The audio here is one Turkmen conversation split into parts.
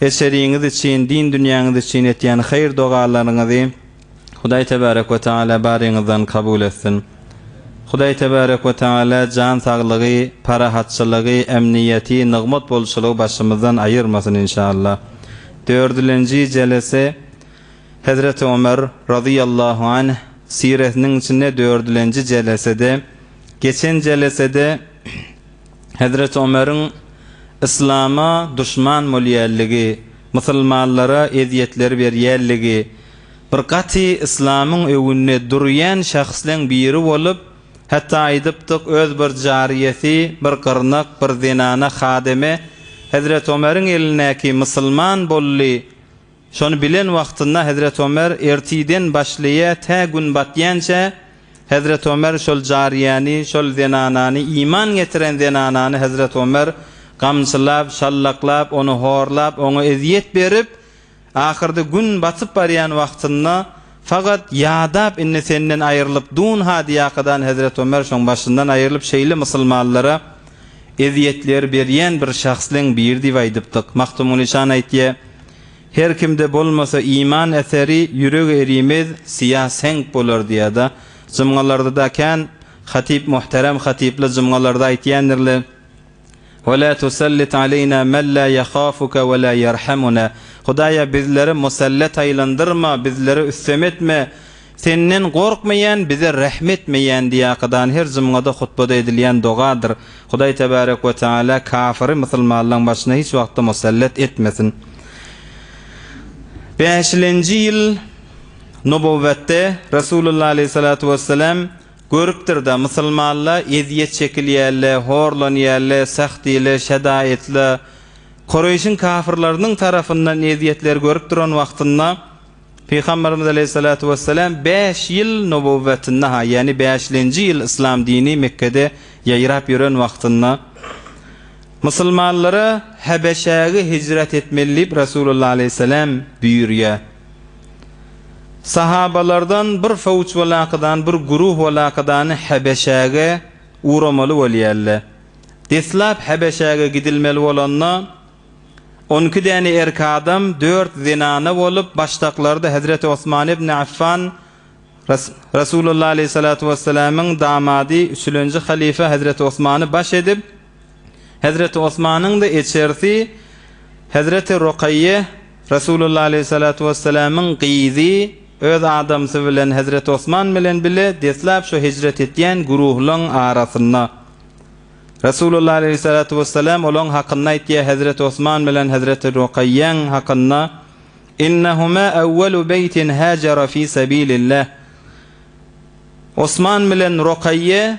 Eseriňiz üçin, din dünýäňiz üçin etýän haýyr-dogalaryňyzy Hudaý Tebarek we Tagala baryňyzdan kabul etsin. Hudaý Tebarek we Tagala jan saglygy, parahatçylygy, emniýeti, nygmat bolçulygy başymyzdan aýyrmasyn inşallah. Dördülenji jelese Hezreti Ömer, razyýallahu anh, siresiniň içinde dördülenji jelesede, geçen jelesede Hezreti Omeriň Yslama duşman bolýanligi, musulmanlara ezýetler berýänligi, bir gaty Yslamyň öwünde durýan şahsleň biri bolup, hatda aýdypdyk, öz bir jaryýesi, bir gyrnak, bir zenana hademe, Hezreti Omeriň elindäki musulman bolly, Şony bilen wagtynda Hezreti Omer ertiden başlaýa tä gün batýança Hezreti Omer şol jaryýäni şol zenanany iman getiren zenanany Hezreti Omer gamçylap şallaklap ony horlap oňa ezýet berip ahyrda gün batyp barýan wagtynda Fakat ýadap indi senden aýrylyp dun hadyýakadan Hezret Ömer şoň başyndan aýrylyp şeýle mysylmanlara ezýetler berýän bir şahsleň biri diýip aýdypdyk. Magtymguly şan aýtýa, Her kimde bolmasa iman äseri, ýüreg erimez, syýa seňk bolar diýada. Jymgalardada kän hatyp muhterem hatypla jymgalarda aýtýandirle. We la tusallit aleýna men la ýahafuke we la ýerhamuna, Hudaýa bizleri musallat aýlandyrma, bizlere üstem etme, Senden gorkmaýan, bize rähm etmeýän diýäkydany her jumgada hutbada edilýän dogadyr. Hudaý tebarek we teala kafyry musulmanlaň başyna hiç wagtda musallat etmesin. Bäşilenji ýyl Nubowwatda Resulullah aleýhissalatu wessalam, Görüpdir-da, musulmanla ezýet çekilýälle, horlanýalle, sähdiyle, şedaýytla, Kureýşiň kafyrlarynyň tarapyndan ezýetler görüp duran wagtynda, Pygamberimiz aleýhissalatu wessalam bäş ýyl nubowwetinde-ha, ýagny bäşlenji ýyl yslam dini Mekgede ýaýrap ýören wagtynda, musulmanlara Hebeşäge hijret etmeli diýip, Resulullah aleýhissalam buýurýar. Sahabalardan bir sowç walakydan bir guruh walakydany Hebeşäge ugramaly bolýarlar. Deslap Hebeşäge gidilmeli bolanda, on iki däne erki adam, dört zenana bolup, başdaklarda Hezreti Osman ibn Affan, Resulullah aleyhissalatu wesselamyň damady, üçülenji halyfa Hezreti Osmany baş edip, Hezreti Osmanyň-da eçersi Hezreti Rokaýýe, Resulullah aleýhi salatu wesselamyň gyzy, öz adamsy bilen Hezreti Osman bilen bile deslap şo hijret etýän güruhlaň arasynda. Resulullah aleýhi salatu wesselam olaň hakynda aýtýar Hezreti Osman bilen Hezreti Rokaýýäň hakynda, Innehuma awwalu beýtin hajara fi sabilillah. Osman bilen Rokaýýe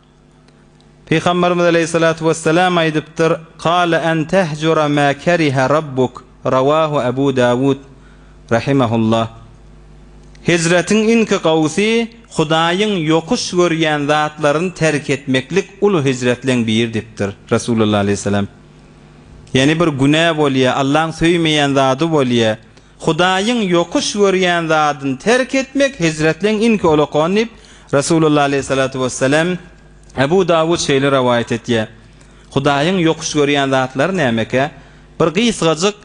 Pygamberimiz aleýhissalatu wessalam aýdypdyr, Kale en tehjura ma kerihe Rabbuk, rawahu Ebu Dawud, rahimehullah. Hijretiň iňki gawsy Hudaýyň ýokuş görýän zatlaryny terk etmeklik uly hijretleň biri dipdir, Resulullah aleýhissalam. Ýani bir günä bolýa, Allaň söýmeýän zady bolýa, Hudaýyň ýokuş görýän zadyny terk etmek hijretleň iň köli okony diýip, Resulullah aleýhi salatu wessalam, Ebu Dawud şeýle rowaýat etýär. Hudaýyň ýokuş görýän zatlary nämekä? Bir gysgajyk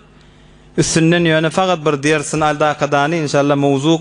üstünden ýöne fakat bir dersini al dakadany inşallah mowzuk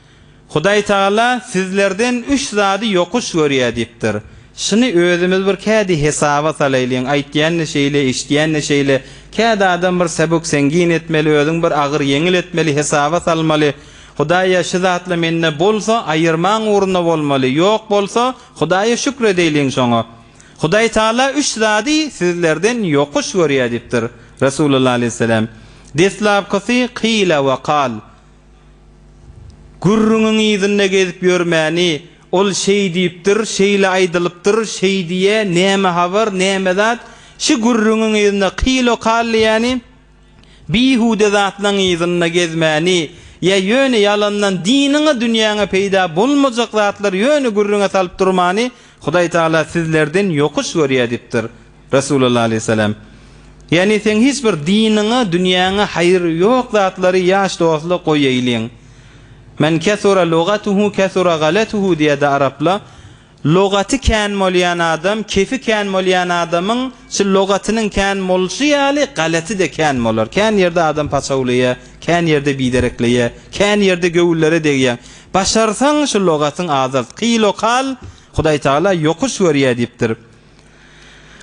Hudaý Tagala sizlerden üç zady ýokuş görýär diýipdir. Şuny özümiz bir kädi hesaba salaýlyň, aýtýan-da şeýle, eşidýän-de şeýle, kädi adam bir säbük-sängin etmeli, özüň bir agyr-ýeňil etmeli, hesaba salmaly. Hudaýa şu zatla mende bolsa, aýyrmaň ugrunda bolmaly, ýok bolsa, Hudaýa şükür edeýliň şoňa. Hudaý Tagala üç zady sizlerden ýokuş görýär diýipdir, Resulullah alaýhyssalam. Deslapkysy, Kyle we kal. Gürrüňiň yzynda gezip ýörmäni, ol şeý diýipdir, şeýle aýdylypdyr, şeý diýýä, näme habar, näme zat, şü gürrüňiň yzynda kilo-kal diýýäni, bihude zatlaň yzynda gezmäni, ýa ýöne ýalandan diniňe, dünýäňe peýda bolmajak zatlary ýöne gürrüňe salyp durmany Hudaý Tagala sizlerden ýokuş görýä diýipdir. Resulullah aleýhissalam, Ýagny seň hiç bir diniňe, dünýäňe haýry ýok zatlary ýaş dostla goýaýlyň. Men kesura lugatuhu kesura galatuhu diýýärdi arapla, Lugaty kän bolýan adam, kefi kän bolýan adamyň şi lugatynyň kän bolşy ýaly galaty-da kän bolar. Kän ýerde adam paçawlaýar, kän ýerde biderekleýär, kän ýerde göwünlere degýär. Başarsaň şi lugatyň azalt. Kyl-o-kal, Hudaý Tagala ýokuş görýär diýipdir.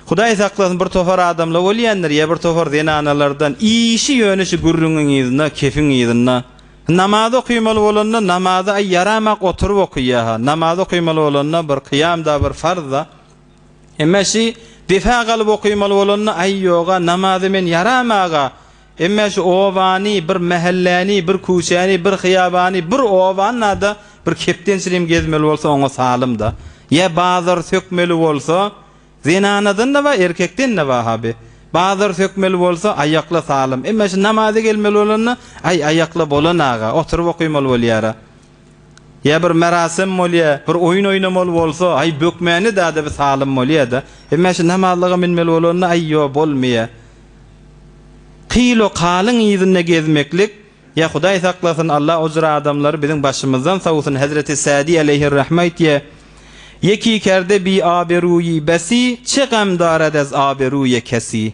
Hudaý saklasyn bir topar adamla bolýandyr ýa bir topar zenanalardan işi ýöne şu gürrüňiň yzynda kefiň yzynda namaz okymaly bolanda namazy aý ýaramak oturyp okyýaha namaz okymaly bolanda bir kyýamda bir farzda emma şi defa galyp okymaly bolanda aý ýoga namazy men ýaramaga Emme şu obany, bir mähelläni, bir küçäni, bir hyýabany, bir obany-da bir kepdençiligim gezmeli bolsa oňa salym-da. Ýa bazar sökmeli bolsa, zenanadan-da bar, erkekden-de bar haby. Bazar sökmeli bolsa, aýakla salym. Emme şu namaza gelmeli bolanda, aý, aýakla bolan aga, oturyp okaýmaly bolýar-a. Ýa bir merasem bolýa, bir oýun oýnamaly bolsa, aý, bökmäni dada bir salym bolýa-da. Emma şu namazlyga münmeli bolanda, aý, ýo, bolmaýa. Kyýl-okalyň yzynda gezmeklik, ýa Hudaý saklasyn, Allah ojur adamlary biziň başymyzdan sowsun, hezreti Sadi aleýhir-rahme aýtýa, Ýeki kerde bi aberuýi besi, çe gamdara dez aberuýe kesi.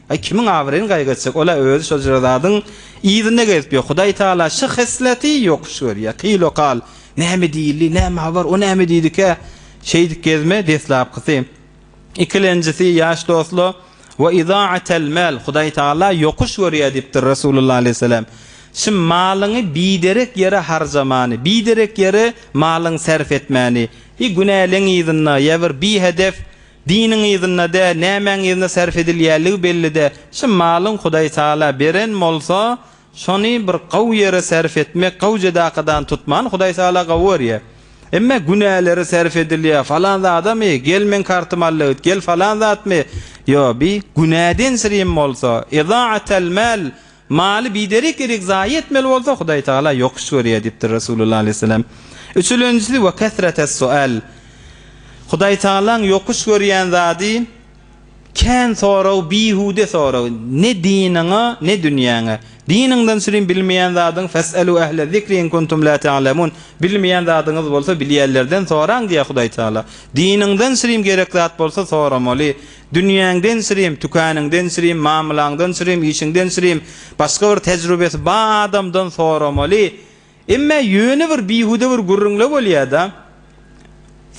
Aý kimiň abyryny gaýgy etjek ola özi şol jyrazadyň yzynda gezip ýör hudaý taala şy hysleti ýokuş görýär ty lokal näme diýildi näme habar o näme diýdikä şeýdip gezme deslapkysy ikilenjisi ýaş dosla we izaa'atel mal hudaý taala ýokuş görýär diýipdir resulullah aleýhissalam şy malyňy biderek ýere harjamany biderek ýere malyňy serf etmäni y günäleň yzynda ýa bir bihedef Diniň yzynda-dä, nämäň yzynda sarp edilýänligi belli-dä. Şu malyň Hudaý Taala beren bolsa, şony bir gowy ýere sarp etmek, gowy jedakadany tutman Hudaý Taala gowy görýär. Emma günälere sarp edilýär, falan zadamy, gel meň kartymy al-da git, gel falan zatmy, ýo, bi günäden sirim bolsa, izaa'atel mal, Maly biderek-derek zaýa etmeli bolsa, Hudaý Tagala ýokuş görýär diýipdir Resulullah aleýhissalam. Üçülenjisi, Ve kesretes sual. Hudaý Tagalaň ýokuş görýän zady, kän sorag, bihude sorag. Ne diniňe, ne dünýäňe. Diniňden sülin bilmeýän zadyň, Fes'elu ehle zikri in kuntum la te'lemun, Bilmeýän zadyňyz bolsa, bilýänlerden soraň diýýär Hudaý Tagala. Diniňden sülin gerek zat bolsa, soramaly. Dünýäňden sürem, tükäningden sürem, mamylaňdan sürem, işiňden sürem, başga bir tejrübesi ba adamdan soramaly. Emmä ýöne bir bihuda bir gürrüňle bolýada.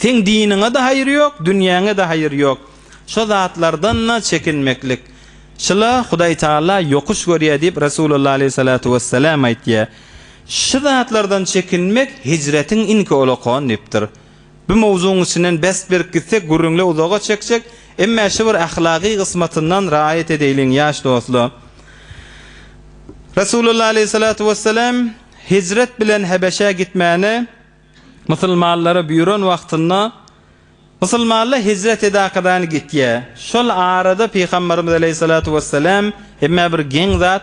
Seň diniňe-de haýry ýok, dünýäňe-de haýry ýok. Şo zatlardan-da çekinmeklik. Şula Hudaý Taala ýokuş görýär diýip Resulullah aleýhissalatu wessalam aýtýar. Şu zatlardan çekinmek hijretiň iňki olakony diýipdir. Bu mowzugyň içinden best berip gitsek gürrüňle uzaga çekjek, emmä şu bir ahlagy gysmatyndan raýat edeýliň ýaş dostlar. Resulullah aleýhissalatu wessalam hijret bilen Hebeşä gitmäni musulmanlara buýran wagtynda musulmanlar hijret edakadan gitýär. Şol arada Pygamberimiz aleýhissalatu wessalam emmä bir geň zat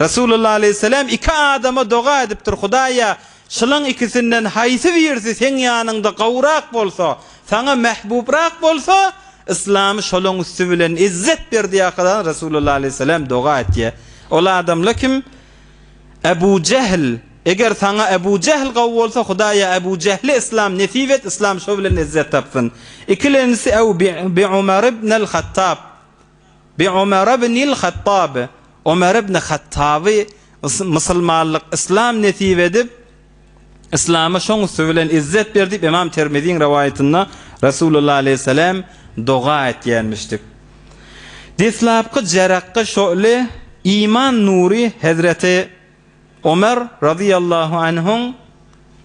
Resulullah aleýhisselam iki adama doga edipdir, Hudaýa, şulaň ikisinden haýsy birisi seň ýanyňda gowrak bolsa, saňa mähbubrak bolsa, yslamy şolaň üsti bilen izzet ber diýakadan Resulullah aleýhisselam doga etýä. Ol adamla kim? Ebu Jehl. Eger saňa Ebu Jehl gowy bolsa, Hudaýa Ebu Jehli yslam nesip et, yslam şo bilen izzet tapsyn. Ikilenjisi Ebu Umar ibn al-Hattab. Bi Omar ibnil Hattab, Omar ibn Hattaby musulmanlyk, yslam nesip edip, yslama şoň üsti bilen izzet ber diýip Ymam Termiziň rowaýatynda Resulullah aleýhissalam doga etýänmişdik. Deslapky jarakgy şöhle, iman nury hezreti. Ömer razyýallahu anhuň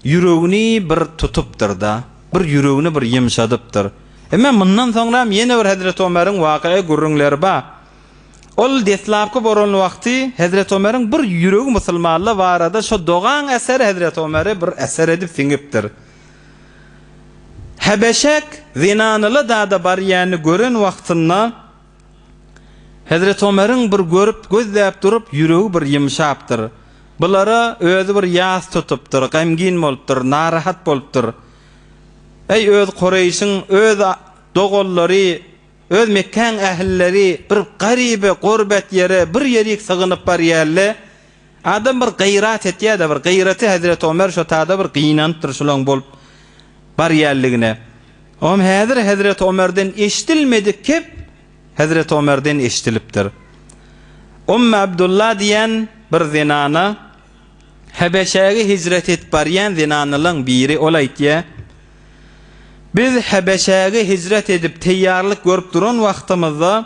ýüregini bir tutupdyr-da, bir ýüregini bir ýymşadypdyr. Emma mundan soňram ýene bir hezreti Ömeriň wakaa gürrüňleri bar. Ol deslapky bolan wagty hezreti Ömeriň bir ýüregi musulmanla barada şo dogaň äseri hezreti Ömeri bir äsir edip siňipdir. Hebeşek zenanyla zada barýany gören wagtynda. Hezreti Ömeriň bir görüp, gözläp durup, ýüregi bir ýymşapdyr. Bulara özi bir ýas tutupdyr, gamgin bolupdyr, narahat bolupdyr. Eý, öz Kureýşiň, öz doganlary, öz Mekgäň ählileri bir garyby, gurbet ýere bir ýerik sygynyp barýaly, Adam bir gyrat etýär-de, bir gyraty hezreti Omer şo tada bir gynanypdyr şolaň bolup barýanligine. Oňam häzir hezreti Omerden eşidilmedik kep hezreti Omerden eşidilipdir. Ummy Abdulla diýen bir zenana, Hebeşäge hijret edip barýan zenanalaň biri, ol aýtýar, Biz Hebeşäge hijret edip teýýarlyk görüp duran wagtymyzda,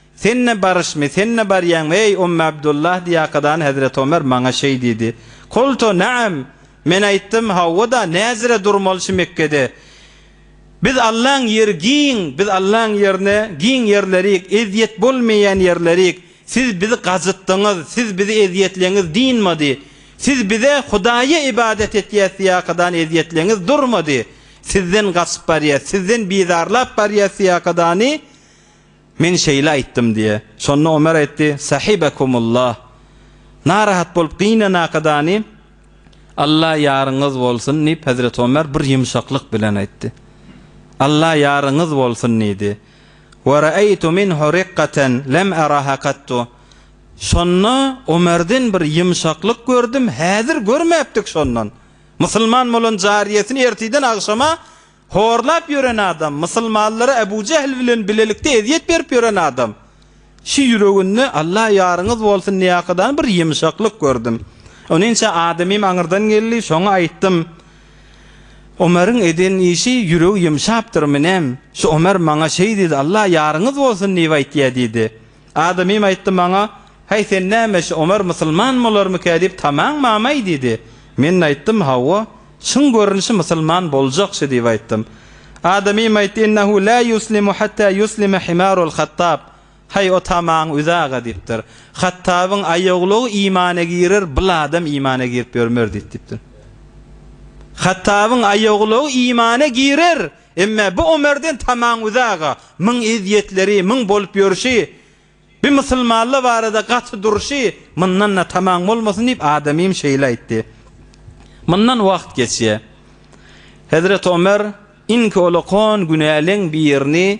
Sen-ä baryşmy, sen-ä barýaňmy, eý, Ummy Abdullah diýýakadan Hezreti Omer maňa şeý diýdi. Kultu, Na'am! Men aýtdym, Hawa-da, näzire durmaly şi Mekgede. Biz Allaň ýeri giň, biz Allaň ýerine giň ýerlerik, ezýet bolmaýan ýerlerik. Siz bizi gajytdyňyz, siz bizi ezýetleňiz dynmady. Siz bize Hudaýa ybadat etýäs diýýakadan ezýetleňiz durmady. Sizden gaçyp barýas, sizden bizarlap barýas diýýakadany. Men şeýle aýtdym diýe. Şonda Omer aýtdy, Sahibekumullah! Narahat bolup gynan akadany Alla ýaryňyz bolsun diýip, hezreti Omer bir ýumşaklyk bilen aýtdy. Alla ýaryňyz bolsun diýdi. Wa ra'aytu minhu riqqaten lem araha kattu. Şonda Omerden bir ýumşaklyk gördüm, häzir görmäpdik şondan. Musulman bolan jariýesini ertiden agşama Horlap ýören adam, mysylmanlara Ebu Jehl bilen bilelikde ezýet berip ýören adam. Şu ýüreginde Allah ýaryňyz bolsun diýýäkadan bir ýumşaklyk gördüm. Ony ençe adamym aňyrdan geldi, şoňa aýtdym. Omaryň eden işi ýüregi ýumşapdyr, menem, şu Omar maňa şeý diýdi, Allah ýaryňyz bolsun diýip aýtýar diýdi. Adamym aýtdy maňa, Häý, sen näme şu Omar musulman bolarmykä diýip tamaň bamy diýdi. Men aýtdym, Hawa, çyn görnüşi musulman boljakşy diýip aýtdym. Adamym aýtdy, Ennehu la ýuslimu hatta ýuslime himarul Hattab, Häý, o tamaň üz aga diýipdir. Hattabyň aýoglugy imana girer, bul adam imana girip ýörmer diýipdir. Hattabyň aýoglugy imana girer, Emme bu Omerden tamaň uzaga, muň ezýetleri, muň bolup ýörşi, bi musulmanla barada gaty durşy, mundan-da tamaň bolmasyn diýip adamym şeýle aýtdy. Mundan wagt geçýä. Hezreti Omer, inki olakon günäleň birini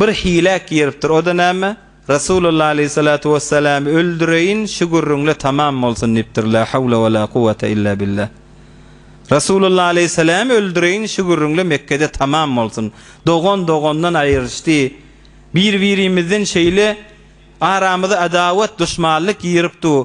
Bir hilä giripdir, o-da näme? Resulullah aleýhissalatu wessalamy öldüreýin, şu gürrüň-le tamam bolsun diýipdir, la hawla we la kuwwata illa billah. Resulullah aleýhissalamy öldüreýin, şu gürrüň-le Mekgede tamam bolsun. Dogan dogandan aýryşdy. Bir-birimizden şeýle aramyza adawat, duşmanlyk girip dur.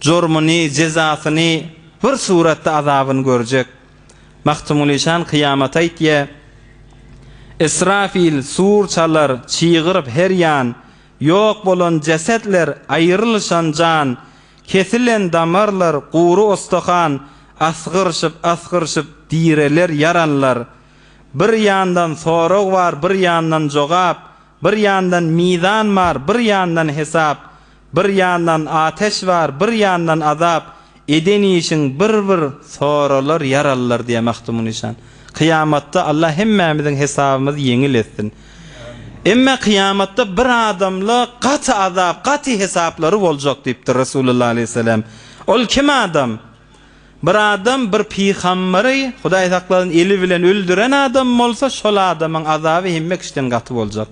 jormuny, jezasyny, bir suratda azabyny görjek. Magtymgulyşan kyýamat aýtýa, Israfil sur çalar, çygyryp her ýan, Ýok bolan jesetler, aýrylyşan jan, Kesilen damarlar, gury ostahan, Asgyryşyp, asgyryşyp, direler ýaranlar. Bir ýandan sorag bar, bir ýandan jogap, Bir ýandan mizan bar, bir ýandan hesap, Bir ýandan ateş bar bir ýandan azap eden işiň bir bir soralar ýaralylar diýä Magtymguly nyşan. Kyýamatda Allah hemmämiziň hesabymyzy ýeňil etsin. Emma kyýamatda bir adamla gaty azap gaty hesaplary boljak diýipdir Resulullah aleýhisselam. Ol kim adam? Bir adam bir pygambary Hudaý saklasyn eli bilen öldüren adam bolsa şol adamyň azaby hemme kişiden gaty boljak.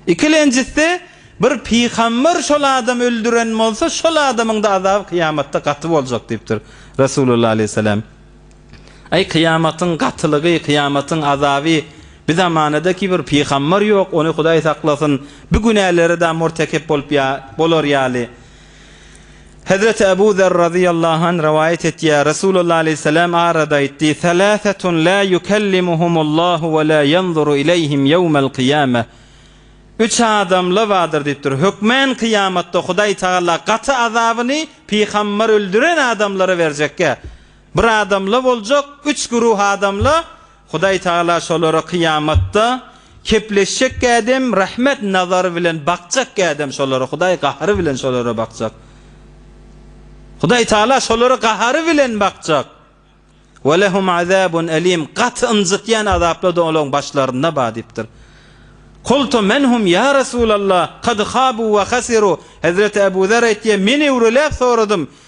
Ikilenjisi, bir pygamber şol adamy öldüren bolsa, şol adamyň-da azaby kyýamatda gaty boljak diýipdir Resulullah aleýhissalam. Aý, kyýamatyň gatylygy, kyýamatyň azaby, bi zamanada ki bir pygamber ýok, ony Hudaý saklasyn, bi günälere-de murtekep bolup ýa, bolar ýaly. Hezreti Ebu Zer razyýallahu an rowaýat etýär, Resulullah aleýhissalam aradı aýtdy, Seläsetun lâ ýukellimuhumullahu we lâ ýanzuru ileýhim ýewmel kyýame, Üç adamla bardyr diýipdir, hökmän kyýamatda Hudaý tagala gaty azabyny pygambar öldüren adamlara berjekge, bir adamla boljak, üç güruh adamla Hudaý Tagala şolara kyýamatda kepleşjek kädem rahmet nazary bilen bakjak kädem şolara Hudaý gahary bilen şolara bakjak. Hudaý Tagala şolara gahary bilen bakjak. Ve lehum azabun elim gaty ynjytýan azapla da olaň başlaryna bar diýipdir. Kultu menhum ýa Resulallah kad habu ve hasiru Hezreti Ebu Zer aýtýar men öwreläp soradym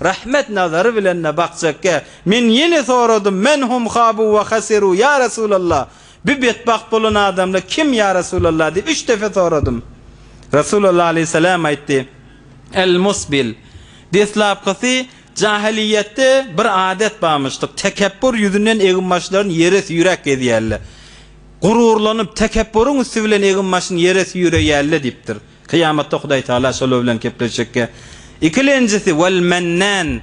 Rahmet nazary bilen-de bakjakkä, men ýene soradym, Men hum habu we hasiruu, ýa Resulallah, bu betbagt bolan adamlar kim, ýa Resulallah, diýip, üç depe soradym. Resulallah aleýhissalam aýtdy, El musbil, deslapkysy, jahiliýetde bir adet barmyşdyk, tekepbur ýüzünden eginbaşlaryny ýere süýräp gezýärler. Gururlanyp, tekepburyň üsti bilen eginbaşyny ýere süýreýärler diýipdir. Kyýamatda Hudaýtagala şolar bilen kepleşjekkä. Ikilenjisi, Wal-Mennan,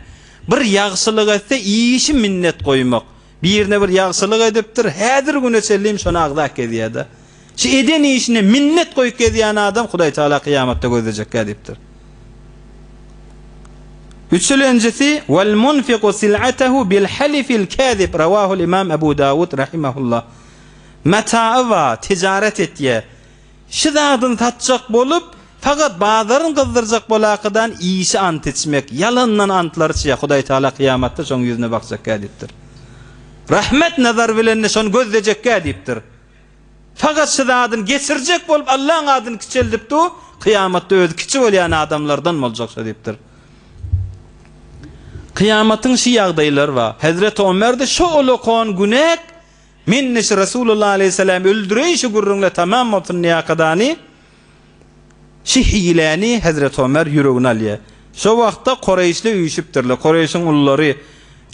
bir ýagşylyk etse, işi minnet goýmak. Birine bir ýagşylyk edipdir, häzir güne çenlem şony agzap gezýär-de. Şu eden işine minnet goýup gezýän adam Hudaýtagala kyýamatda gözlejekkä diýipdir. Üçülenjisi, Wal-Munfiku sil'atehu bil-halifil kazib, Rawahul-Imam Abu Dawud rahimehullah. Mataýy bar, tijaret etýär. Şu zadyny satjak bolup, fakat bazaryny gyzdyrjak bolakydan işi ant içmek, ýalandan antlary içýär, Hudaý Tagala kyýamatda şoň ýüzüne bakjakkä diýipdir. Rahmet nazary bilen-de şony gözlejekkä diýipdir. Fakat şu zadyny geçirjek bolup Allaň adyny kiçeldip du, kyýamatda özi kiçi bolýan adamlardan boljak şo diýipdir. Kyýamatyň şu ýagdaýlary bar. Hezreti Omer-de şo olokon günek, Men neşi Resulullah aleýhissalam öldüreýşi gürrüňle tamam bolsun Niýakadany, şi hiläni hezreti Omer ýüregine alýar. Şo wagtda Koreýşli üýşüpdirler. Koreýşiň ululary,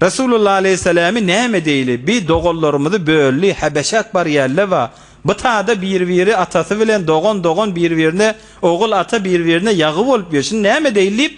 Resulullah aleýhissalamy näme edeýli, bi doganlarymyzy böldi, Häbeşäk barýalle wa, bu tada bir-biri atasy bilen dogan-dogan bir-birine ogul ata bir-birine ýagy bolup ýör, şini näme edeýli diýip,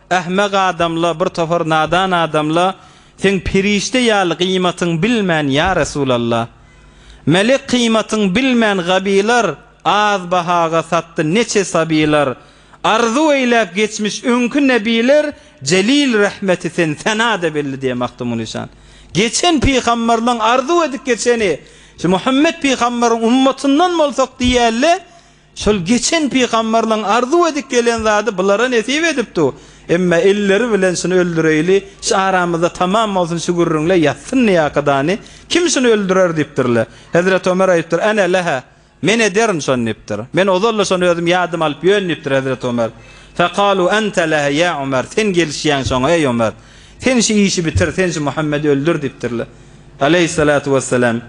Ahmak adamla bir topar nadan adamla seň perişde ýaly gyýmatyň bilmän ýa Resulalla. Melek kyýmatyň bilmän gabylar az bahaga satdy neçe sabylar arzuw eýläp geçmiş öňki nebiler jelil rahmeti sen senada belli diýen Magtymguly Nyşan. Geçen pygamberleň arzuw edip geçeni şu Muhammet pygamberin ummatyndan bolsak diýälle Şol geçen pygamberleriň arzuw edip gelen zady bulara nesip edipdi. Emma elleri bilen şuny öldüreýli, şu aramyzda tamam bolsun şu gürrüňle ýatsyn ýakadany, kim şuny öldürer diýipdirler. Hezreti Ömer aýdypdyr, Ene leha, men ederin şony diýipdir. Men ozal-da şony özüm ýadyma alyp ýörün diýipdir Hezreti Ömer. Fekalu ente leha ýa Ömer, sen gelişýäň şoňa eý Ömer. Sen şu işi bitir, sen şu Muhammedi öldür diýipdirler. Aleýhissalatu wessalam.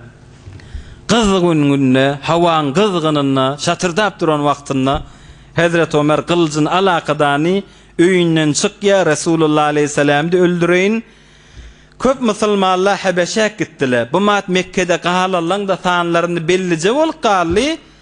Gyzgyn günde, howaň gyzgynynda, şatyrdap duran wagtynda Hezreti Omer gylyjyny al akydany, öýünden çyk ýa Resulullah aleýhissalamdy öldüreýin. Köp musulmanlar Hebeşäk gitdiler. Bu mat Mekgede galallaň-da sanlaryny bellije bolup galdy.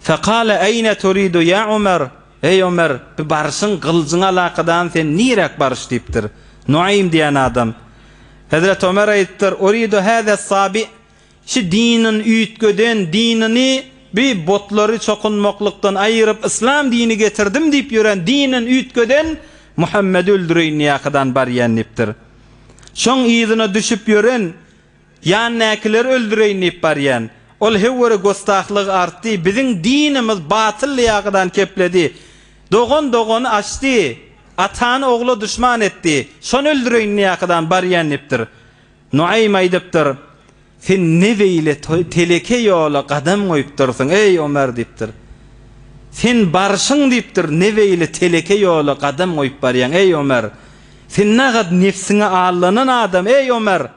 Fekale eýne turidu ýa Ömer, eý Ömer, bi barşyň, gylyjyň alakadany sen niräk baryş diýipdir. Nuaýym diýen adam. Hezreti Ömer aýdypdyr, Uridu hâzâ sâbi, şi dinin üýtgeden, dinini bi butlary çokunmaklykdan aýyryp yslam dini getirdim diýip ýören dinin üýtgeden Muhammedi öldüreýin diýäkadan barýan diýipdir. Şoň yzyna düşüp ýören, Ýan näkileri öldüreýin diýip barýan. Ol höwere göstahlygy artdy, biziň dinimiz batylly ýagydan kepledi. Dogan dogany açdy, atany ogla duşman etdi. Şony öldüreýin diýäkydan barýan diýipdir. Nuaýym aýdypdyr, Sen ne beýle teleke ýola gadam goýupdyrsyň, eý Omar diýipdir. Sen barşyň diýipdir, ne beýle teleke ýola gadam goýup barýaň, eý Omar. Sen nagad nebsiňe allanan adam, eý Ömer!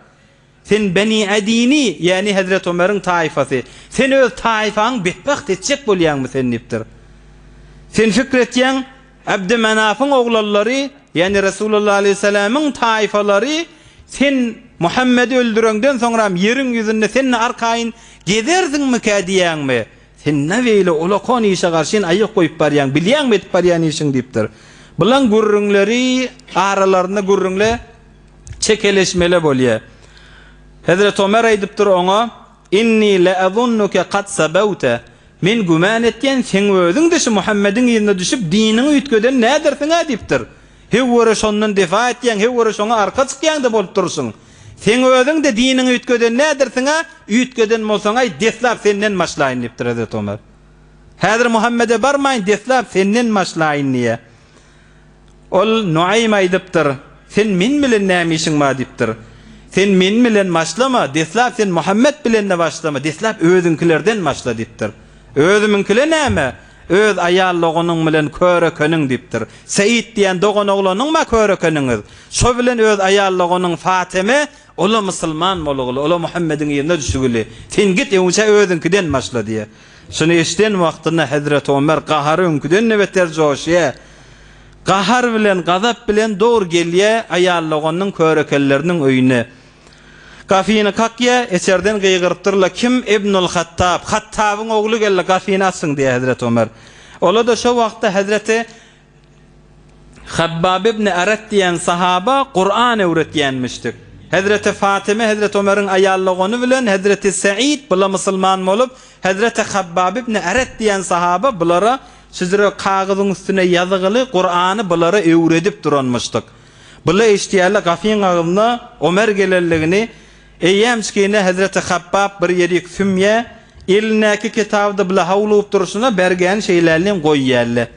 Sen Beni Adini, ýagny hezreti Ömeriň taýfasy. Sen öz taýfaňy betbagt etjek bolýaňmy sen diýipdir. Sen pikir etýäň, Abdymanafyň oglallary, ýagny Resulalla aleýhissalamyň taýfalary sen Muhammedi öldüreňden soňram ýeriň ýüzünde sen arkaýyn gezersiňmikä diýýäňmi? Sen nä beýle ulakon işe garşyn aýak goýup barýaň, bilýäňmi edip barýan işiňi? diýipdir. Bulan gürrüňleri aralarynda gürrüňle, çekeleşmele bolýa. Hezreti Omer aýdypdyr oňa, Inni leazunnuke kad sabawte, Men güman etýän, seň özüň-de şu Muhammediň yzyna düşüp, diniňi üýtgeden nädersiň-ä diýipdir. Hew göre şondan defa etýäň, hew göre şoňa arka çykýaň-da bolup durursyň. Seň özüň-de diniňi üýtgeden nädirsiň-ä? Üýtgeden bolsaň-aý, deslap senden başlaýyn, diýipdir Hezreti Omar. Häzir Muhammede barmaýyn, deslap senden başlaýyn, diýýär. Ol Nuaýym aýdypdyr, Sen men bilen näme işiň bar? diýipdir. Sen men bilen başlama, deslap sen Muhammet bilen-de başlama, deslap özüňkilerden başla, diýipdir. Özümiňkile näme? Öz aýal doganyň bilen körekeniň, diýipdir. Seýit diýen doganoglanyňm-a körekeniňiz? Şo bilen öz aýal doganyň Fateme, ol-a musulman bolguly, ol-a Muhammediň yzyna düşügili. Sen git, öňçä özüňkiden başla, diýýär. Şuny eşiden wagtynda hezreti Omer gahary öňküden-de beter joşýar. Gahar bilen, gazap bilen dogry gelýär aýal doganynyň körekelleriniň öýüne. Gafyny kakýa, eçerden gygyrypdyr-la, Kim? Ibnul Hattab, Hattabyň ogly geldi, gafyny açsyn diýýär hezreti Ömer. Ola-da şo wagtda hezreti Habbab ibn Arat diýen sahaba Kuran öwretýänmişdik. Hezreti Fatyma hezreti Ömeriň aýal dogany bilen hezreti Seýid bula musulman bolup, hezreti Habbab ibn Arat diýen sahaba bulara şüjre kagyzyň üstüne ýazygyly Kurany bulara öwredip duranmyşdyk. Bula eşitýärler gapyň agzynda Omer gelenligini, eýýämçkine hezreti Habbap bir ýerik sümýä, elindäki kitaby-da bile howlugyp durşuna bergäni şeýlelinýin goýýärler.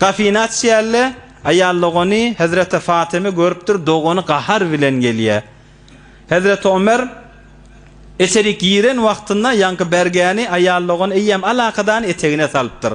Gapyny açýarlar, aýal dogany hezreti Fatymy görüpdir, dogany gahar bilen gelýär. Hezreti Omer içerik giren wagtynda ýaňky bergäni aýal dogany eýýäm alakadany etegine salypdyr.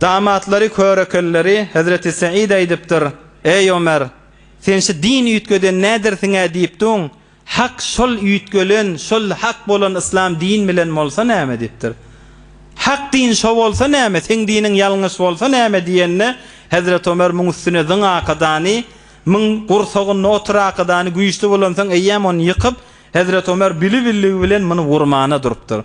Damatlary, körekelleri hezreti Seýid aýdypdyr, Eý, Ömer! Sen şu din üýtgeden nädersiň-ä diýip duň, hak şol üýtgelen, şol hak bolan yslam din bilen bolsa näme diýipdir. Hak din şo bolsa näme, seň diniň ýalňyş bolsa näme diýende, hezreti Ömer muň üstüne zyň akydany, muň gursagynda otur akydany güýçli bolansoň eýýäm ony ýykyp, hezreti Ömer bili-billigi bilen muny urmana durupdyr.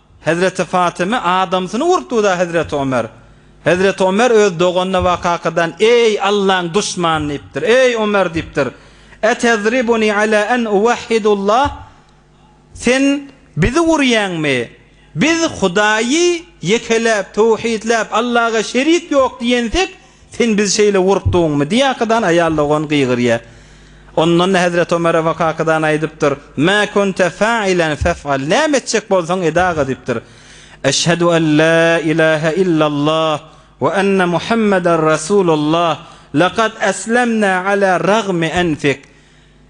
Hezreti Fatymy adamsyny urupdygyda Hezreti Omer. Hezreti Omer öz doganyna wakakadan Eý Allaň duşmany diýipdir. Eý Omer diýipdir. Etezribuni ala en uwahhidullah Sen bizi urýaňmy? Biz Hudaýy ýekeläp, töwhidläp, Allaga şerik ýok diýensek, Sen bizi şeýle gorkduňmy? diýýäkadan, aýal dogan gygyrýar. Ondan-da Hezreti Ömer Abu Kakadan aýdypdyr, Mä kunte fa'ilen fef'al, näme etjek bolsaň ed-aga diýipdir. Eşhedü en la ilahe illallah we enne Muhammeden rasulullah, lekad eslemna ala ragmi enfik.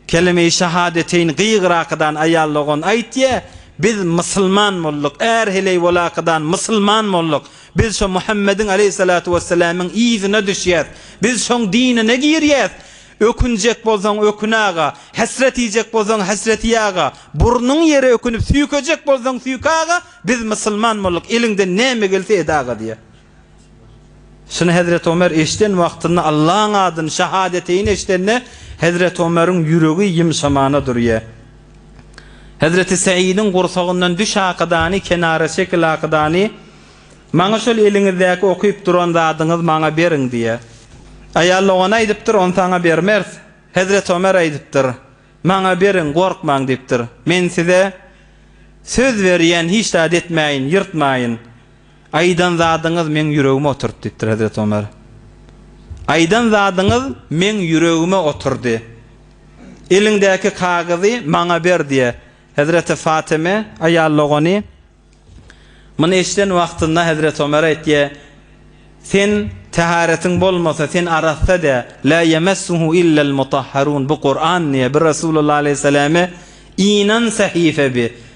Kelime-i şahadeteýni gygyrakydan aýal dogan aýtýa, Biz mysylman bolduk, är heleý bolakydan mysylman bolduk. Biz şo Muhammediň aleýhissalatu wessalamyň yzyna düşýäs. Biz şoň dinine girýäs. Ökünjek bolsaň ökün-aga, hesret iýjek bolsaň hesret iý-aga, burnuň ýere ökünip süýkejek bolsaň süýk-aga, biz mysylman bolduk, eliňden näme gelse ed-aga diýýä. Şuny hezreti Omer eşiden wagtynda Allaň adyny şahadeteýni eşidende hezreti Omeriň ýüregi ýymşamana durýa. Hezreti Säidiň gursagyndan düş akydany kenara çekil akydany maňa şol eliňizdäki okyp duran zadyňyz maňa beriň diýa. Aýal dogany aýdypdyr ony saňa bermeris. Hezreti Omer aýdypdyr maňa beriň gorkmaň diýipdir. Men size söz berýän hiç zat etmäýin ýyrtmaýyn. Aýdan zadyňyz meň ýüregime oturdy, diýipdir Hezreti Omer. Aýdan zadyňyz meň ýüregime oturdy. Eliňdäki kagyzy maňa ber, diýe. Hezreti Fatyma, aýal dogany, muny eşiden wagtynda Hezreti Omer aýtýa, Sen täheretiň bolmasa, sen arassa dä, lâ ýemessuhu illel mutahharûn, bu Kuran, diýe, bi Resulullah aleýhissalame inan sähife bi,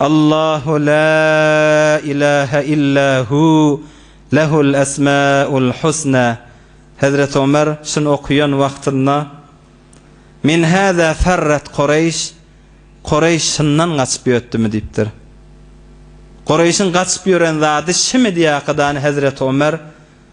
Allahu la ilahe illa hu lehul esmaul husna Hezreti Omer şuny okaýan wagtynda Min hâzâ ferret Kureýş Kureýş şundan gaçyp ýötdümi diýipdir. Kureýşiň gaçyp ýören zady şimi diýýä hakydany Hezreti Omer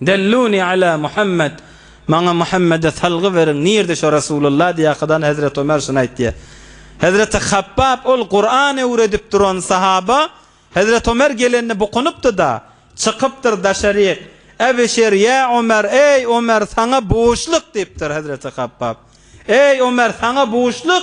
Delluni ala Muhammed, Maňa Muhammede salgy beriň, nirde şo Resulullah diýýäkadan Hezreti Ömer şuny aýtýa. Hezreti Habbab ol Kuran öwredip duran sahaba Hezreti Ömer gelende bukunypdyda, çykypdyr daşaryk, Ebişir ýa Ömer, eý Ömer saňa buşluk diýipdir Hezreti Habbab. Eý Ömer saňa buşluk,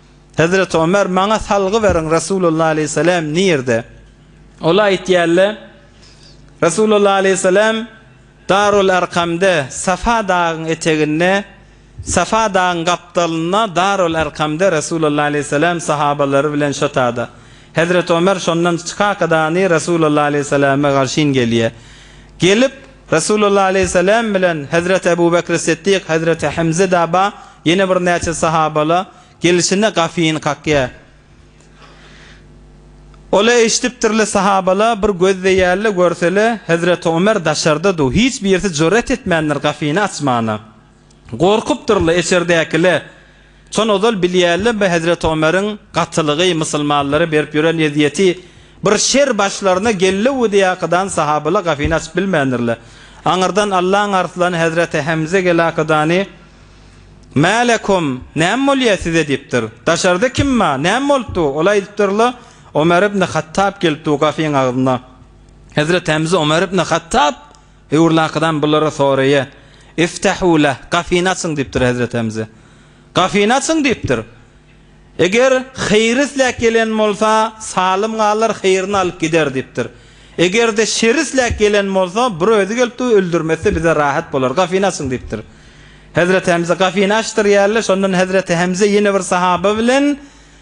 Hezreti Ömer, Maňa salgy beriň, Resulullah aleýhissalam nirde? Ol aýtýarlar, Resulullah aleýhissalam Darul Arkamda, Safa dagyň eteginde, Safa dagyň gapdalynda, Darul Arkamda Resulullah aleýhissalam sahabalary bilen şotada. Hezreti Ömer şondan çykaakadany Resulullah aleyhissalame garşyn gelýe. Gelip, Resulullah aleyhissalam bilen Hezreti Ebu Bekri Siddik, Hezreti Hemze daba ýene bir näçe sahabala gelişine gafyny kakýa. Ola eşitipdirle sahabala bir gözleýälle görsele Hezreti Ömer daşarda du, hiç birisi jüret etmändir gafyny açmana. Gorkupdyr-la eçerdäki-le. Çon ozal bilýärlembi hezreti Omeriň gatylygy, musulmanlara berip ýören ezýeti? Bir şer başlaryna gelleudi ýakydan sahabyla gafyny açyp bilmändir-le. Aňyrdan Allaň arslany hezreti Hemze gelakydany, Mä lekum, näme bolýa size? diýipdir. Daşarda kim bar? Näme bolupdu? Ol aýdypdyr-la, Omer ibni Hattap gelipdi-u gafyň agzyna. Hezreti Hemze Omer ibni Hattap! Öwrulakydan bulara soraýa, Iftahû leh, gapyny açyň diýipdir Hezreti Hemze. Gapyny açyň diýipdir. Eger heýri isläp gelen bolsa, salym galar, heýrini alyp gider diýipdir. Eger-de şeri isläp gelen bolsa, bir özi gelipdi, öldürmese bize rahat bolar. Gapyny açyň diýipdir. Hezreti Hemze gapyny açdyrýarlar. Şondan Hezreti Hemze ýene bir sahaba bilen.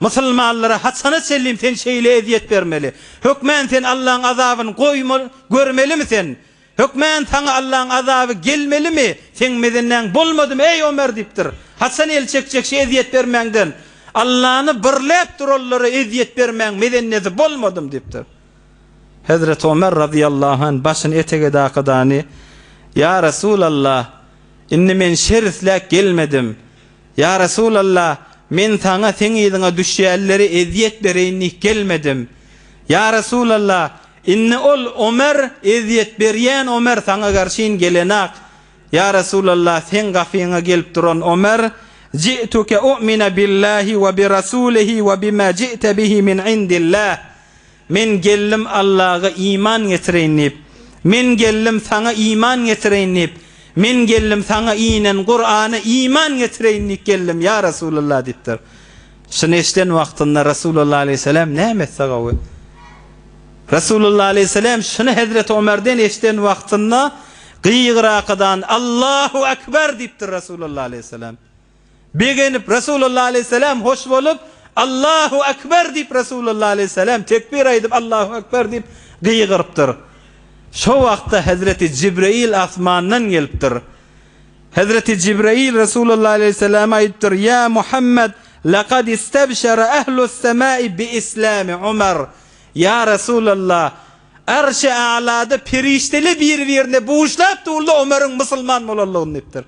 Musulmanlara haçana çenlin sen şeýle ezýet bermeli? Hökmän sen Allaň azabyny goýma görmelimi sen? Hökmän saňa Allaň azaby gelmelimi? Seň mezenäň bolmadymy, eý Omer diýipdir. Haçan el çekjek şu ezýet bermäňden? Allany birläp duranlara ezýet bermäň mezennesi bolmadymy diýipdir. Hezreti Omer razyýallahu anh başyny etege dakydany, Ýa Resulallah, indi men şer isläp gelmedim. Ýa Resulalla, men saňa seň yzyňa düşýänlere ezýet bereýin diýip gelmedim. Ýa Resulalla, indi ol Omer, ezýet berýän Omer saňa garşyn gelenok. Ýa Resulalla, seň gapyňa gelip duran Omer, Ji'tuke u'mine billahi we bi Rasulihi we bima ji'te bihi min indillah. Men geldim Allaga iman getireýin diýip, Men geldim Saňa iman getireýin diýip, Men geldim Saňa inen Kurana iman getireýin diýip geldim, ýa Resulallah diýipdir. Şuny eşiden wagtynda Resulallah aleýhissalam näme etse gowy? Resulallah aleýhissalam şuny hezreti Omerden eşiden wagtynda gygyrakydan Allahu akbar diýipdir Resulallah aleýhissalam. Begenip, Resulullah aleýhissalam hoş bolup, Allahu akbar diýip, Resulullah aleýhissalam tekbir aýdyp, Allahu akbar diýip gygyrypdyr. Şo wagtda Hezreti Jibreýil asmandan gelipdir. Hezreti Jibreýil Resulullah aleýhissalama aýdypdyr, Ýa Muhammad, lekad istabşara ehlu semai bi islami Umar. Ýa Resulallah, Arşy A'lada perişdeler bir-birine buşlap durlar Omaryň musulman bolanlygyny diýipdir.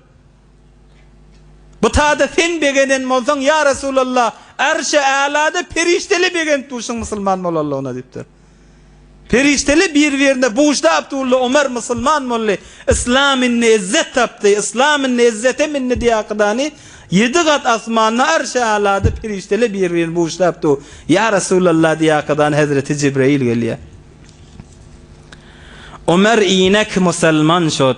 Bu tada sen begenen bolsaň, ýa Resulallah, Arşy Älada perişdeli begenip durşuň musulman bolanlygyna diýipdir. Perişdeli bir-birine bujdy Abdulla Omar musulman boldy, Yslam indi ezzet tapdy, Yslam indi ezzete mindi diýakydany ýedi gat asmanda Arşy Älada perişdeli bir-birini bujlap dur, ýa Resulallah diýakydany Hezreti Jibreýil gelýär. Omar inek musulman şod.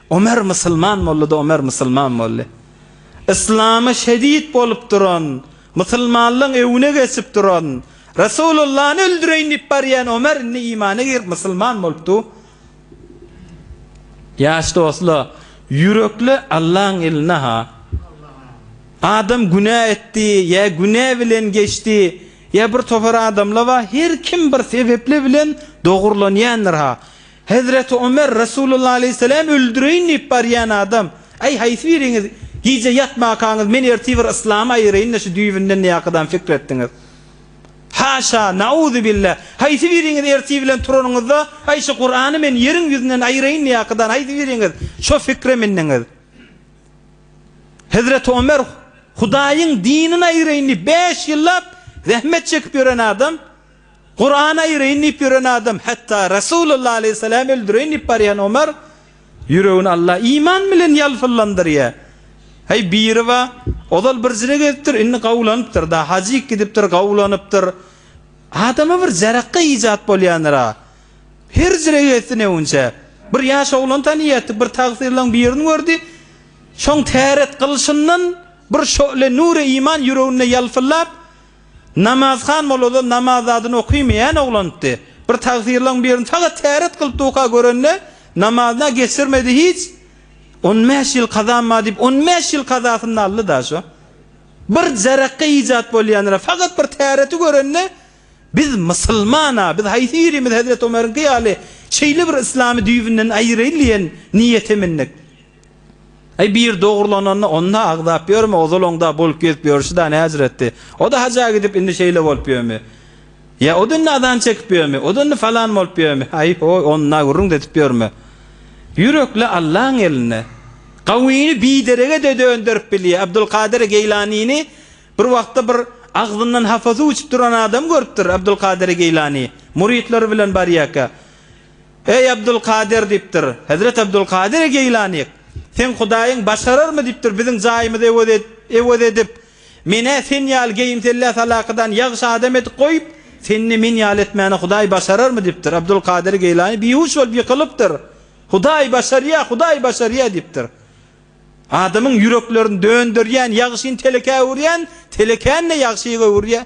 Omer musulman boldy-da Omer musulman boldy. Yslama şehit bolup duran, musulmanlygyň öwüne geçip duran, Resulullany öldüreýin diýip barýan Omer indi imana girip musulman bolupdy. Ýaş dostlar, ýürekli Allaň elinde-ha. Adam günä etdi, ýa günä bilen geçdi, ýa bir topar adamlar bar, her kim bir sebepli bilen dogrulanýandyr-ha. Hezreti Ömer, Resulullah aleýhisselämi öldüreýin diýip barýan adam, Aý, haýsy biriňiz gije ýatmakaňyz men ertir bir yslamy aýyraýyn-da şu düýbünden diýäkadam pikir etdiňiz? Haşa, nauzubilla! Haýsy biriňiz ertir bilen turanyňyzda, Aý, şu Kurany men ýeriň ýüzünden aýyraýyn diýäkadam haýsy biriňiz şo pikire mendiňiz? Hezreti Ömer Hudaýyň dinini aýyraýyn diýip bäş ýyllap zähmet çekip ýören adam, Kurany aýyraýyn diýip ýören adam, hatda Resulullah aleýhissalamy öldüreýin diýip barýan Omar ýüregini Allah iman bilen ýalpyllandyrýar. Heý, biriba, ozal birjine gezipdir, indi gawlanypdyr, da, hajyk gidipdir, gawlanypdyr. Adama bir jarakga ijat bolýandyr-a. Her jire gezsin öwünçä. Bir ýaş oglan tanyýardy, bir tagsyrlaň birini gördi. Şoň täret gylyşyndan bir şöhle nuri iman ýüreginde ýalpyllap, Namazhan mollada namaz zadyny okymeýän oglandy. Bir tagsyrlaň birini tagat täret kylyp duka görende, namazyna geçirmedi hiç. On bäş ýyl kazam bar diýip, on bäş ýyl kazasyny-da aldy-da şo. Bir jarakga ijat bolýandyr-a, fakat bir täreti görende, Biz musulman-a, biz haýsy birimiz hezreti Omeriňki ýaly şeýle bir yslamy düýbünden aýyraýyn diýen niýete mindik. Aý biri dogrulananda onda agzap ýörme ozal oňda bolup gezip ýörşi da näjretdi. Oda haja gidip indi şeýle bolup ýörmi? Ýa oda indi azan çekip ýörmi? Oda indi falan bolup ýörmi? Aý hoý onda gürrüň dedip ýörme. Ýürekle Allaň elinde. Gawyny biderege de dönderip bilýä. Abdulkadyr Geýlanini bir wagtda bir agzyndan hapa suw içip duran adam görüpdir Abdulkadyr Geýlani. Murytlary bilen barýaka. Eý, Abdulkadyr! diýipdir. Hezreti Abdulkadyr Geýlanyk, Seň Hudaýyň başararmy? diýipdir. Biziň jaýymyzy ewe ewe edip, men-ä sen ýaly geýimsellä salakydan ýagşy adam edip goýup, seni-de men ýaly etmäni Hudaý başararmy? diýipdir. Abdulkadyr Geýlany bihuş bolup ýykylypdyr. Hudaý başarýar, Hudaý başarýar! diýipdir. Adamyň ýüreklerini dönderýän ýagşyny telekä öwürýän, telekäni-de ýagşy öwürýär.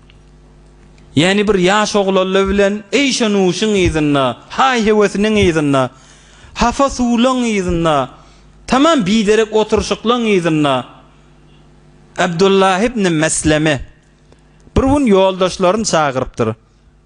Ýäni bir ýaş oglalla bilen eýşe-nuşyň yzynda, haý-hewesiniň yzynda, hafa suwlaň yzynda, tamam biderek oturyşyklaň yzynda Abdullah ibn Mesleme bir gün ýoldaşlaryny çagyrypdyr.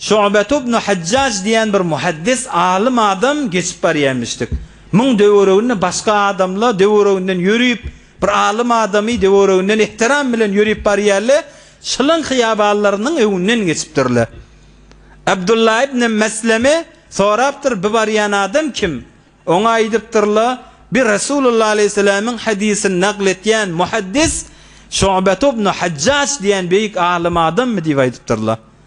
Şu'bet ibn Hajjaj diýen bir muhaddis, alym adam geçip barýarmyşdyk. Muň döwereginde başga adamla döwereginden ýörüp, bir alym adamy döwereginden ehtiram bilen ýörüp barýarle, şylyň hyýabanlarynyň öňünden geçipdirle. Abdullah ibn Mesleme sorapdyr, bi barýan adam kim? Oňa aýdypdyrla, bi Resulullah aleýhissalamyň hadysyny nakl etýän muhaddis Şu'bet ibn Hajjaj diýen beýik alym adammy diýip aýdypdyrla.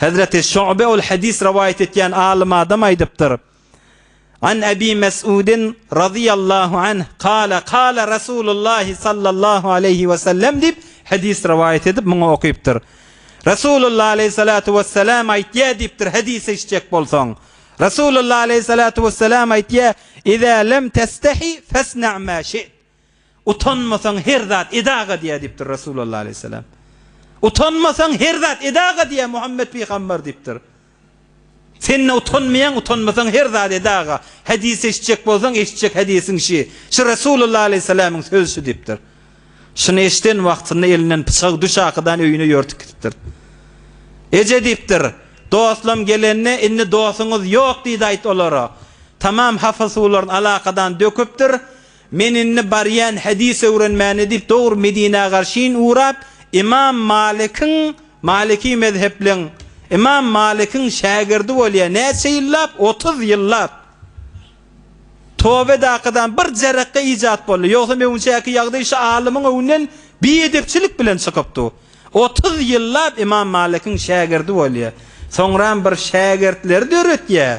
Hezreti Şu'be ol hadys rowaýat etýän alym adam aýdypdyr, An Ebi Mes'udin razyýallahu anh kâle kâle Resûlullâhi sallallahu aleýhi we sellem diýip, hadys rowaýat edip, muňa okypdyr. Resûlullah aleýhissalatu wessalam aýtýar diýipdir, hadys eşitjek bolsaň. Resûlullah aleýhissalatu wessalam aýtýar, Izâ lem testehi fesna' mâ şi't. Utanmasaň her zat edaga diýýär diýipdir Resulallah aleýhissalam. Utanmasaň her zat edaga diýýär Muhammet pygambar diýipdir. Sen-de utanmaýaň utanmasaň her zat edaga. Hedis eşitjek bolsaň eşitjek hedisiň şi. Şu Resulallah aleýhissalamyň sözi şu diýipdir. Şuny eşiden wagtynda elinden pyçagy düş akydan öýüne ýörtüp gidipdir. Eje diýipdir, dostlam gelende indi dosuňyz ýok diýdi aýt olara. Tamam hapa suwlaryny alakadan döküpdir. Men indi barýan hedis öwrenmäne diýip dogry Medinä garşyn ugrap, Ymam Malykyň, Malyky mezhepliň, Ymam Malykyň şägirdi bolýar, näçe ýyllap, otuz ýyllap. Tobe dakadan bir jerekge ijat boldy, ýogsam öňçäki ýagdaý şu alymyň öňünden biedepçilik bilen çykypdy. Otuz ýyllap Ymam Malykyň şägirdi bolýar. Soňram bir şägirtleri döretýär,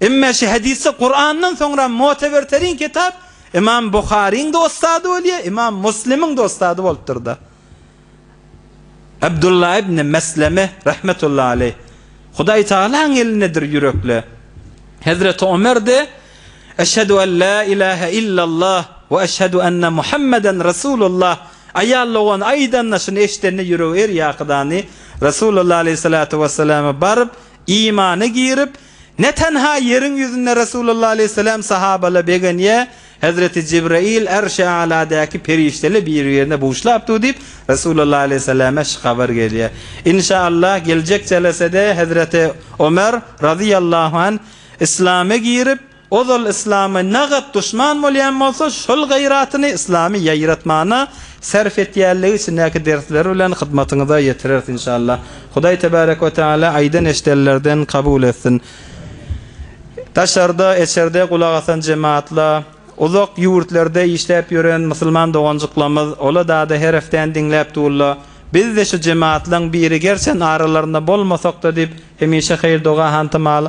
Emme şu hadisde Kurandan soňra muteberterin kitap Imam Buharyň-da ussady bolýar, Imam Muslimiň-de ussady bolupdyr-da. Abdullah ibn Mesleme rahmetullahi aleýh, Hudaý Tagalaň elindedir ýürekle. Hezreti Ömer-de Eşhedü en la ilahe illallah we eşhedü enne Muhammeden Resulullah aýal dogan aýdanda şuny eşidende ýüregi her ýakydany Resulullah aleýhissalatu wesselama baryp Imana girip, ne tenha ýeriň ýüzünde Resulullah aleýhissalam sahabala begenýä, Hezreti Jibraýyl Ärşi A'ladäki perişdele bir-birine buşlap dur diýip, Resulullah aleýhissalama şy habar gelýä. Inşa Allah, geljek jelesede Hezreti Omer, razyýallahu anh, Islama girip, Ozal yslama nagat duşman bolýan bolsa şol gaýratyny yslamy ýaýratmana sarf etýänligi içindäki dersleri bilen hyzmatyňyza ýetireris inşallah. Hudaý tebarek we teala aýdan eşdenlerden kabul etsin. Daşarda, eçerde gulak asan jematla, uzak ýurtlarda işläp ýören musulman doganjyklamyz ola dada herfden diňläp durla. Bizde şu jematlaň biri gerçen aralarynda bolmasakda diýip hemişe haýyr doga hantamaly.